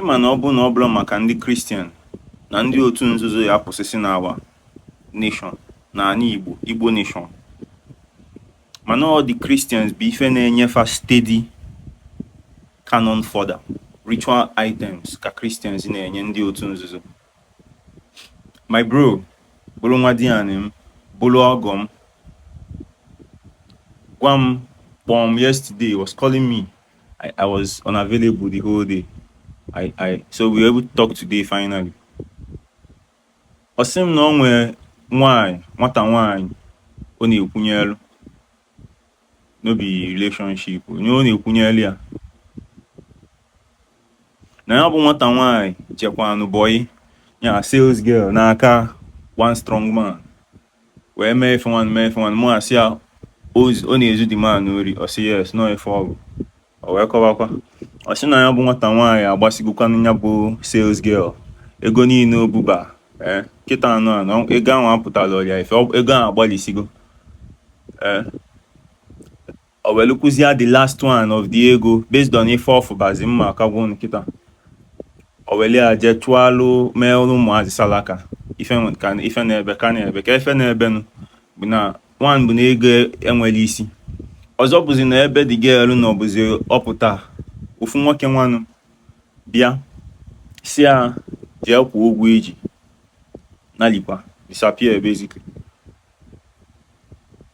Ịma na ọ bụ na ọ bụla maka ndị Christian na ndị otu nzuzo ya-akwụsịsị n'our nation n'anị Igbo nation mana ọ ndị Christians bụ ife na-enye fa steady cannon fodder ritual items ka Christians na-enye ndị otu nzuzo my bro bụrụ nwadianị m bụrụ ọgọ m gwa m kpọm yesterday was calling me I, I was unavailable the whole day. I, I, so we were able to talk today finally. Ọ sị m na o nwere nwaanyị nwata nwaanyị ọ na-ekwunyelu no be relationship onye ọ na-ekwunyelu ya na ya bụ nwata nwaanyị jekwanụ bọyị as sales girl n'aka one strong man wee mee ife nwanụ mee ife nwanụ mụ asị ya ọ na-ezu the man ori ọ sị yes na ọ ife ọ bụ o wee kọwakwa ọ sị na ya bụ nwata nwaanyị agbasigokwanụ ya bụ sales girl ego niile o buba ee kịta na na ego ahụ apụtalọrọ ya ife ego ahụ agbalisigo ee o welukwuzie the last one of the ego based on ife ọ fụbazi mma akagwo nkịta o welu ya jee chụalụ meerụ ụmụazị salaka ife nwe- ka- ife na-ebe ka na-ebe ka ife na-ebenụ bụ na one bụ na ego enwerọ isi ọzọ bụzi na ebe the girl nọ bụzi ọ pụta ọ fụ nwoke nwanụ bịa sị ya jee kwụọ ụgwọ i ji nalikwa disappear basically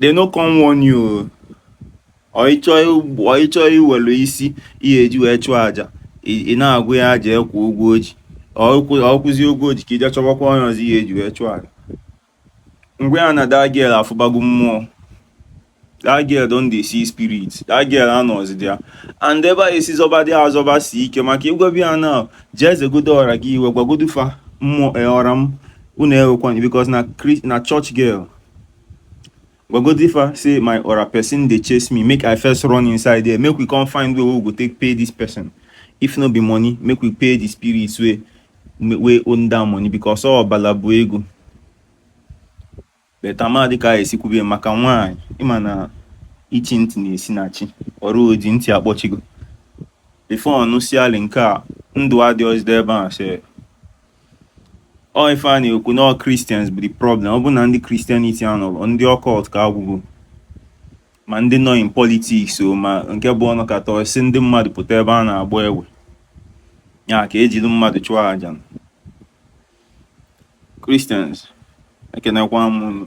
they no come warn you ọ ị chọ iwelu isi i ya-eji wee chụọ aja ị na-agwa ya ya jee kwụọ ụgwọ o ji ọ kwụzie ụgwọ o ji ka i jee chọbakwa onye ọzọ i ya-eji wee chụọ aja ngwa ya na that girl afụbago mmụọ that girl don dey see spirit that girl anọzi there and ebe a esi zọba dị azọbasi ike maka ị gwaba ya na jee zegodo ọra gị iwe gwagodu fa mmụọ eh, ọra m unu ewekwana because na church girl Gogodifa say my ora person dey chase me make I first run inside there make we come find way wey we go take pay this person if no be money make we pay the spirits wey wey own that money because all bala bụ ego but amadị ka anyị esikwube maka nwaanyị ịma na ichi ntị na-esi na chi ọrụ oji ntị akpọchigo before ọnụ siali nke a ndụ adịghịzide ebe a sị ọ ife a na-ekwu na Christians bụ the problem ọ bụ na ndị Christianity anọrọ ndị occult ka agwụgo ma ndị nọ in politics o ma nke bụ ọ nọkata sị ndị mmadụ pụta ebe a na-agba egbe ya ka e jili mmadụ chụọ aja Christians ekenekwa m